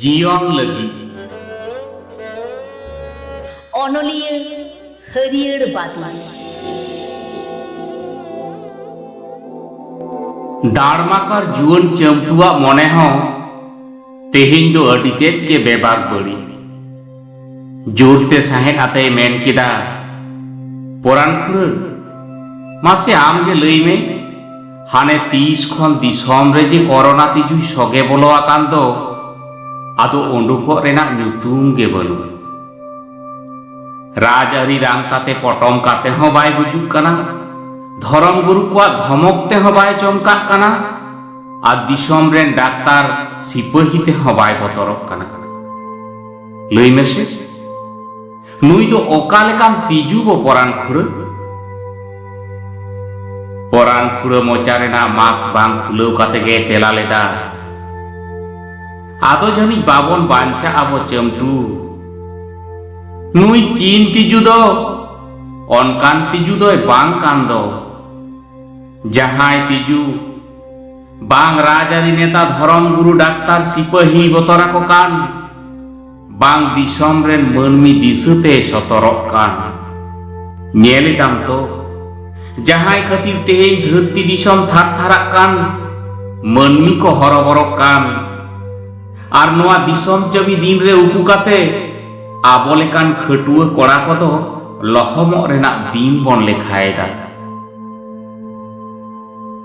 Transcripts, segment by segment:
ᱡᱤᱭᱚᱱ ᱞᱟᱹᱜᱤᱫ ᱚᱱᱚᱞᱤᱭᱟᱹ ᱦᱟᱹᱨᱭᱟᱹᱲ ᱵᱟᱫᱞᱟ ᱫᱟᱲᱢᱟᱠᱟᱨ ᱡᱩᱣᱟᱹᱱ ᱪᱟᱹᱢᱴᱩᱣᱟᱜ ᱢᱚᱱᱮ ᱦᱚᱸ ᱛᱮᱦᱮᱧ ᱫᱚ ᱟᱹᱰᱤ ᱛᱮᱫ ᱜᱮ ᱵᱮᱵᱟᱠ ᱵᱟᱹᱲᱤᱡ ᱡᱳᱨᱛᱮ ᱥᱟᱦᱮᱫ ᱟᱛᱮᱭ ᱢᱮᱱ ᱠᱮᱫᱟ ᱯᱚᱨᱟᱱ ᱠᱷᱩᱲᱟᱹ ᱢᱟᱥᱮ ᱟᱢᱜᱮ ᱞᱟᱹᱭ ᱢᱮ ᱦᱟᱱᱮ ᱛᱤᱥ ᱠᱷᱚᱱ ᱫᱤᱥᱚᱢ ᱨᱮ ᱡᱮ ᱠᱚᱨᱳᱱᱟ ᱛᱤᱡᱩᱭ ᱥᱚᱜᱮ ᱵᱚᱞᱚ ᱟᱠᱟᱱ ᱫᱚ ᱟᱫᱚ ᱩᱰᱩᱠᱚᱜ ᱨᱮᱱᱟᱜ ᱧᱩᱛᱩᱢ ᱜᱮ ᱵᱟᱹᱱᱩᱜ ᱨᱟᱡᱽ ᱟᱹᱨᱤ ᱨᱟᱝ ᱛᱟᱛᱮ ᱯᱚᱴᱚᱢ ᱠᱟᱛᱮ ᱦᱚᱸ ᱵᱟᱭ ᱜᱩᱡᱩᱜ ᱠᱟᱱᱟ ᱫᱷᱚᱨᱚᱢ ᱜᱩᱨᱩ ᱠᱚᱣᱟᱜ ᱫᱷᱚᱢᱚᱠ ᱛᱮᱦᱚᱸ ᱵᱟᱭ ᱪᱚᱢᱠᱟᱜ ᱠᱟᱱᱟ ᱟᱨ ᱫᱤᱥᱚᱢ ᱨᱮᱱ ᱰᱟᱠᱛᱟᱨ ᱥᱤᱯᱟᱹᱦᱤ ᱛᱮᱦᱚᱸ ᱵᱟᱭ ᱵᱚᱛᱚᱨᱚᱜ ᱠᱟᱱᱟ ᱞᱟᱹᱭ ᱢᱮᱥᱮ ᱱᱩᱭ ᱫᱚ ᱚᱠᱟ ᱞᱮᱠᱟᱱ ᱛᱤᱡᱩ ᱵᱚ ᱯᱚᱨᱟᱱ ᱠᱷᱩᱲᱟᱹ ᱯᱚᱨᱟᱱ ᱠᱷᱩᱲᱟᱹ ᱢᱚᱪᱟ ᱨᱮᱱᱟᱜ ᱢᱟᱥᱠ ᱵᱟᱝ ᱠᱷᱩᱞᱟᱹᱣ ᱠᱟᱛᱮ ᱜᱮ ᱛᱮᱞᱟ ᱞᱮᱫᱟ ᱟᱫᱚ ᱡᱟᱹᱱᱤᱡ ᱵᱟᱵᱚᱱ ᱵᱟᱧᱪᱟᱜ ᱟᱵᱚ ᱪᱟᱹᱢᱴᱩ ᱱᱩᱭ ᱪᱤᱱ ᱛᱤᱡᱩ ᱫᱚ ᱚᱱᱠᱟᱱ ᱛᱤᱡᱩ ᱫᱚᱭ ᱵᱟᱝ ᱠᱟᱱ ᱫᱚ ᱡᱟᱦᱟᱸᱭ ᱛᱤᱡᱩ ᱵᱟᱝ ᱨᱟᱡᱽᱟᱹᱨᱤ ᱱᱮᱛᱟ ᱫᱷᱚᱨᱚᱢ ᱜᱩᱨᱩ ᱰᱟᱠᱛᱟᱨ ᱥᱤᱯᱟᱹᱦᱤ ᱵᱚᱛᱚᱨ ᱟᱠᱚ ᱠᱟᱱ ᱵᱟᱝ ᱫᱤᱥᱚᱢ ᱨᱮᱱ ᱢᱟᱹᱱᱢᱤ ᱫᱤᱥᱟᱹ ᱛᱮ ᱥᱚᱛᱚᱨᱚᱜ ᱠᱟᱱ ᱧᱮᱞ ᱮᱫᱟᱢ ᱛᱚ ᱡᱟᱦᱟᱸᱭ ᱠᱷᱟᱹᱛᱤᱨ ᱛᱮᱦᱮᱧ ᱫᱷᱟᱹᱨᱛᱤ ᱫᱤᱥᱚᱢ ᱛᱷᱟᱨ ᱛᱷᱟᱨᱟᱜ ᱠᱟᱱ ᱢᱟᱹᱱᱢᱤ ᱠᱚ ᱦᱚᱨᱚᱵᱚᱨᱚᱜ ᱠᱟᱱ ᱟᱨ ᱱᱚᱣᱟ ᱫᱤᱥᱚᱢ ᱪᱟᱹᱵᱤ ᱫᱤᱱ ᱨᱮ ᱩᱠᱩ ᱠᱟᱛᱮ ᱟᱵᱚ ᱞᱮᱠᱟᱱ ᱠᱷᱟᱹᱴᱩᱣᱟᱹ ᱠᱚᱲᱟ ᱠᱚᱫᱚ ᱞᱚᱦᱚᱢᱚᱜ ᱨᱮᱱᱟᱜ ᱫᱤᱱ ᱵᱚᱱ ᱞᱮᱠᱷᱟᱭᱮᱫᱟ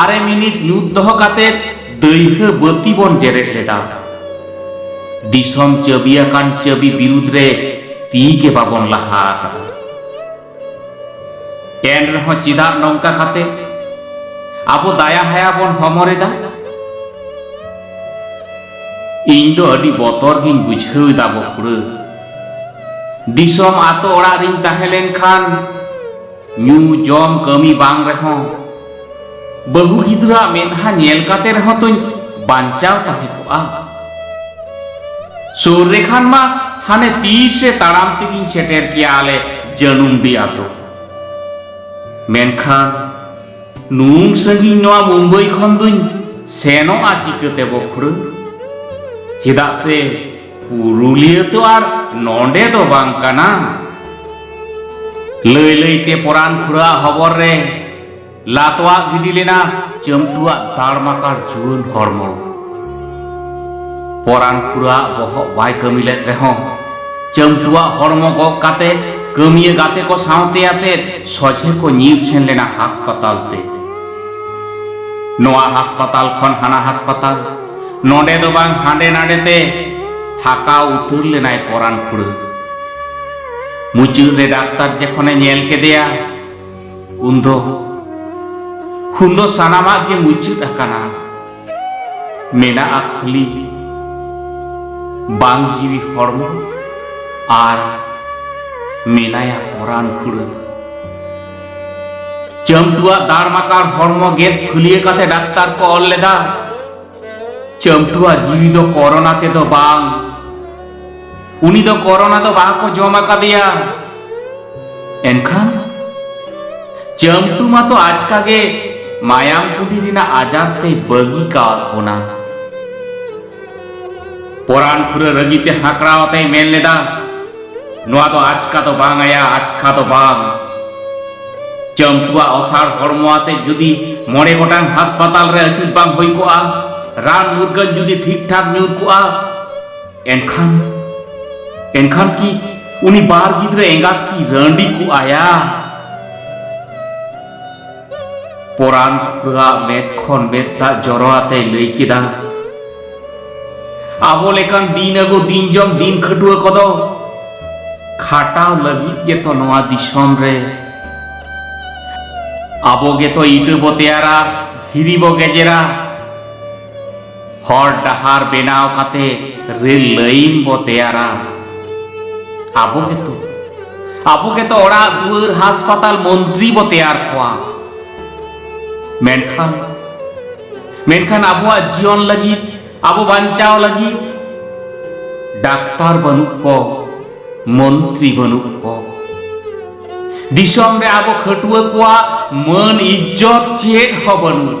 ᱟᱨᱮ ᱢᱤᱱᱤᱴ ᱧᱩᱛ ᱫᱚᱦᱚ ᱠᱟᱛᱮ ᱫᱟᱹᱭᱦᱟᱹ ᱵᱟᱹᱛᱤ ᱵᱚᱱ ᱡᱮᱨᱮᱫ ᱞᱮᱫᱟ ᱫᱤᱥᱚᱢ ᱪᱟᱹᱵᱤ ᱟᱠᱟᱱ ᱪᱟᱹᱵᱤ ᱵᱤᱨᱩᱫᱽ ᱨᱮ ᱛᱤ ᱜᱮ ᱵᱟᱵᱚᱱ ᱞᱟᱦᱟ ᱟᱠᱟᱫᱟ ᱮᱱ ᱨᱮᱦᱚᱸ ᱪᱮᱫᱟᱜ ᱱᱚᱝᱠᱟ ᱠᱟᱛᱮ ᱟᱵᱚ ᱫᱟᱭᱟ ᱦᱟᱭᱟ ᱵᱚᱱ ᱦᱚᱢᱚᱨᱮᱫᱟ ᱤᱧ ᱫᱚ ᱟᱹᱰᱤ ᱵᱚᱛᱚᱨ ᱜᱤᱧ ᱵᱩᱡᱷᱟᱹᱣ ᱮᱫᱟ ᱵᱚᱠᱩᱲᱟᱹ ᱫᱤᱥᱚᱢ ᱟᱛᱳ ᱚᱲᱟᱜ ᱨᱤᱧ ᱛᱟᱦᱮᱸ ᱞᱮᱱᱠᱷᱟᱱ ᱧᱩ ᱡᱚᱢ ᱠᱟᱹᱢᱤ ᱵᱟᱝ ᱨᱮᱦᱚᱸ ᱵᱟᱹᱦᱩ ᱜᱤᱫᱽᱨᱟᱹᱣᱟᱜ ᱢᱮᱫᱦᱟ ᱧᱮᱞ ᱠᱟᱛᱮ ᱨᱮᱦᱚᱸ ᱛᱚᱧ ᱵᱟᱧᱪᱟᱣ ᱛᱟᱦᱮᱸ ᱠᱚᱜᱼᱟ ᱥᱩᱨ ᱨᱮ ᱠᱷᱟᱱ ᱢᱟ ᱦᱟᱱᱮ ᱛᱤᱥ ᱨᱮ ᱛᱟᱲᱟᱢ ᱛᱮᱜᱤᱧ ᱥᱮᱴᱮᱨ ᱠᱮᱭᱟ ᱟᱞᱮ ᱡᱟᱹᱱᱩᱢ ᱫᱤ ᱟᱛᱳ ᱢᱮᱱᱠᱷᱟᱱ ᱱᱩᱱ ᱥᱟᱺᱜᱤᱧ ᱱᱚᱣᱟ ᱢᱩᱢᱵᱟᱭ ᱠᱷᱚᱱ ᱫᱩᱧ ᱥᱮᱱᱚᱜᱼᱟ ᱪᱤᱠᱟᱹᱛᱮ ᱵᱚᱠᱷᱩᱲᱟᱹ ᱪᱮᱫᱟᱜ ᱥᱮ ᱯᱩᱨᱩᱞᱤᱭᱟᱹ ᱛᱚ ᱟᱨ ᱱᱚᱰᱮ ᱫᱚ ᱵᱟᱝ ᱠᱟᱱᱟ ᱞᱟᱹᱭ ᱞᱟᱹᱭᱛᱮ ᱯᱚᱨᱟᱱ ᱠᱷᱩᱲᱟ ᱦᱚᱵᱚᱨ ᱨᱮ ᱞᱟᱛᱣᱟ ᱜᱤᱰᱤ ᱞᱮᱱᱟ ᱪᱟᱹᱢᱴᱩᱣᱟ ᱛᱟᱲᱢᱟᱠᱟᱲ ᱡᱩᱣᱟᱹᱱ ᱦᱚᱲᱢᱚ ᱯᱚᱨᱟᱱ ᱠᱷᱩᱲᱟ ᱵᱚᱦᱚᱜ ᱵᱟᱭ ᱠᱟᱹᱢᱤ ᱞᱮᱫ ᱨᱮᱦᱚᱸ ᱪᱟᱹᱢᱴᱩᱣᱟ ᱦᱚᱲᱢᱚ ᱜᱚᱜ ᱠᱟᱛᱮ ᱠᱟᱹᱢᱤᱭᱟᱹ ᱜᱟᱛᱮ ᱠᱚ ᱥᱟᱶᱛᱮ ᱟᱛᱮ ᱥᱚᱡᱷᱮ ᱠᱚ ᱧᱤᱨ ᱥᱮᱱ ᱞᱮᱱᱟ ᱦᱟᱥᱯᱟᱛᱟᱞ ᱛᱮ ᱱᱚᱣᱟ ᱦᱟᱥᱯᱟᱛᱟᱞ ᱠᱷᱚᱱ ᱦᱟᱱᱟ ᱦᱟᱥᱯᱟᱛᱟᱞ ᱱᱚᱰᱮ ᱫᱚ ᱵᱟᱝ ᱦᱟᱸᱰᱮ ᱱᱟᱰᱮ ᱛᱮ ᱛᱷᱟᱠᱟᱣ ᱩᱛᱟᱹᱨ ᱞᱮᱱᱟᱭ ᱯᱚᱨᱟᱱ ᱠᱷᱩᱲᱟᱹ ᱢᱩᱪᱟᱹᱫ ᱨᱮ ᱰᱟᱠᱛᱟᱨ ᱡᱚᱠᱷᱚᱱᱮ ᱧᱮᱞ ᱠᱮᱫᱮᱭᱟ ᱩᱱᱫᱚ ᱩᱱᱫᱚ ᱥᱟᱱᱟᱢᱟᱜ ᱜᱮ ᱢᱩᱪᱟᱹᱫ ᱟᱠᱟᱱᱟ ᱢᱮᱱᱟᱜᱼᱟ ᱠᱷᱟᱹᱞᱤ ᱵᱟᱝ ᱡᱤᱣᱤ ᱦᱚᱲᱢᱚ ᱟᱨ ᱢᱮᱱᱟᱭᱟ ᱯᱚᱨᱟᱱ ᱠᱷᱩᱲᱟᱹ ᱪᱟᱹᱢᱴᱩᱣᱟᱜ ᱫᱟᱲᱢᱟᱠᱟᱲ ᱦᱚᱲᱢᱚ ᱜᱮᱫ ᱯᱷᱩᱞᱤᱭᱟᱹ ᱠᱟᱛᱮ ᱰᱟᱠᱛᱟᱨ ᱠᱚ ᱚᱞ ᱞᱮᱫᱟ ᱪᱟᱹᱢᱴᱩᱣᱟᱜ ᱡᱤᱣᱤ ᱫᱚ ᱠᱚᱨᱳᱱᱟ ᱛᱮᱫᱚ ᱵᱟᱝ ᱩᱱᱤ ᱫᱚ ᱠᱚᱨᱳᱱᱟ ᱫᱚ ᱵᱟᱠᱚ ᱡᱚᱢ ᱟᱠᱟᱫᱮᱭᱟ ᱮᱱᱠᱷᱟᱱ ᱪᱟᱹᱢᱴᱩ ᱢᱟᱛᱚ ᱟᱪᱠᱟ ᱜᱮ ᱢᱟᱭᱟᱢ ᱠᱩᱰᱤ ᱨᱮᱱᱟᱜ ᱟᱡᱟᱨ ᱛᱮ ᱵᱟᱹᱜᱤ ᱠᱟᱣᱟᱫ ᱵᱚᱱᱟ ᱯᱚᱨᱟᱱ ᱯᱩᱨᱟᱹ ᱨᱟᱹᱜᱤ ᱛᱮ ᱦᱟᱸᱠᱲᱟᱣ ᱟᱛᱮ ᱢᱮᱱ ᱞᱮᱫᱟ ᱱᱚᱣᱟ ᱫᱚ ᱟᱪᱠᱟ ᱫᱚ ᱵᱟᱝ ᱟᱭᱟ ᱟᱪᱠᱟ ᱫᱚ ᱵᱟᱝ ᱪᱟᱹᱢᱴᱩᱣᱟᱜ ᱚᱥᱟᱲ ᱦᱚᱲᱢᱚ ᱟᱛᱮ ᱡᱩᱫᱤ ᱢᱚᱬᱮ ᱜᱚᱴᱟᱝ ᱦᱟᱥᱯᱟᱛᱟᱞ ᱨᱮ ᱟᱹᱪᱩᱨ ᱵᱟᱝ ᱦᱩᱭ ᱠᱚᱜᱼᱟ ᱨᱟᱱ ᱢᱩᱨᱜᱟᱹᱱ ᱡᱩᱫᱤ ᱴᱷᱤᱠ ᱴᱷᱟᱠ ᱧᱩᱨ ᱠᱚᱜᱼᱟ ᱮᱱᱠᱷᱟᱱ ᱮᱱᱠᱷᱟᱱ ᱠᱤ ᱩᱱᱤ ᱵᱟᱨ ᱜᱤᱫᱽᱨᱟᱹ ᱮᱸᱜᱟᱛ ᱠᱤ ᱨᱟᱺᱰᱤ ᱠᱚᱜᱼᱟᱭᱟ ᱯᱚᱨᱟᱱ ᱠᱷᱩᱨᱟᱜ ᱢᱮᱫ ᱠᱷᱚᱱ ᱢᱮᱫ ᱫᱟᱜ ᱡᱚᱨᱚ ᱟᱛᱮ ᱞᱟᱹᱭ ᱠᱮᱫᱟ ᱟᱵᱚ ᱞᱮᱠᱟᱱ ᱫᱤᱱ ᱟᱹᱜᱩ ᱫᱤᱱ ᱡᱚᱢ ᱫᱤᱱ ᱠᱷᱟᱹᱴᱩᱣᱟᱹ ᱠᱚᱫᱚ ᱠᱷᱟᱴᱟᱣ ᱞᱟᱹᱜᱤᱫ ᱜᱮᱛᱚ ᱱᱚᱣᱟ ᱫᱤᱥᱚᱢ ᱨᱮ ᱟᱵᱚ ᱜᱮᱛᱚ ᱤᱴᱟᱹ ᱵᱚ ᱛᱮᱭᱟᱨᱟ ᱫᱷᱤᱨᱤ ᱵᱚ ᱜᱮᱡᱮᱨᱟ ᱦᱚᱨ ᱰᱟᱦᱟᱨ ᱵᱮᱱᱟᱣ ᱠᱟᱛᱮ ᱨᱮᱞ ᱞᱟᱭᱤᱱ ᱵᱚ ᱛᱮᱭᱟᱨᱟ ᱟᱵᱚ ᱜᱮᱛᱚ ᱟᱵᱚ ᱜᱮᱛᱚ ᱚᱲᱟᱜ ᱫᱩᱣᱟᱹᱨ ᱦᱟᱥᱯᱟᱛᱟᱞ ᱢᱚᱱᱛᱨᱤ ᱵᱚ ᱛᱮᱭᱟᱨ ᱠᱚᱣᱟ ᱢᱮᱱᱠᱷᱟᱱ ᱢᱮᱱᱠᱷᱟᱱ ᱟᱵᱚᱣᱟᱜ ᱡᱤᱭᱚᱱ ᱞᱟᱹᱜᱤᱫ ᱟᱵᱚ ᱵᱟᱧᱪᱟᱣ ᱞᱟᱹᱜᱤᱫ ᱰᱟᱠᱛᱟᱨ ᱵᱟᱹᱱᱩᱜ ᱠᱚ ᱢᱚᱱᱛᱨᱤ ᱵᱟᱹᱱᱩᱜ ᱠᱚ ᱫᱤᱥᱚᱢ ᱨᱮ ᱟᱵᱚ ᱠᱷᱟᱹᱴᱩᱣᱟᱹ ᱠᱚᱣᱟᱜ ᱢᱟᱹᱱ ᱤᱡᱽᱡᱚᱛ ᱪᱮᱫ ᱦᱚᱸ ᱵᱟᱹᱱᱩᱜ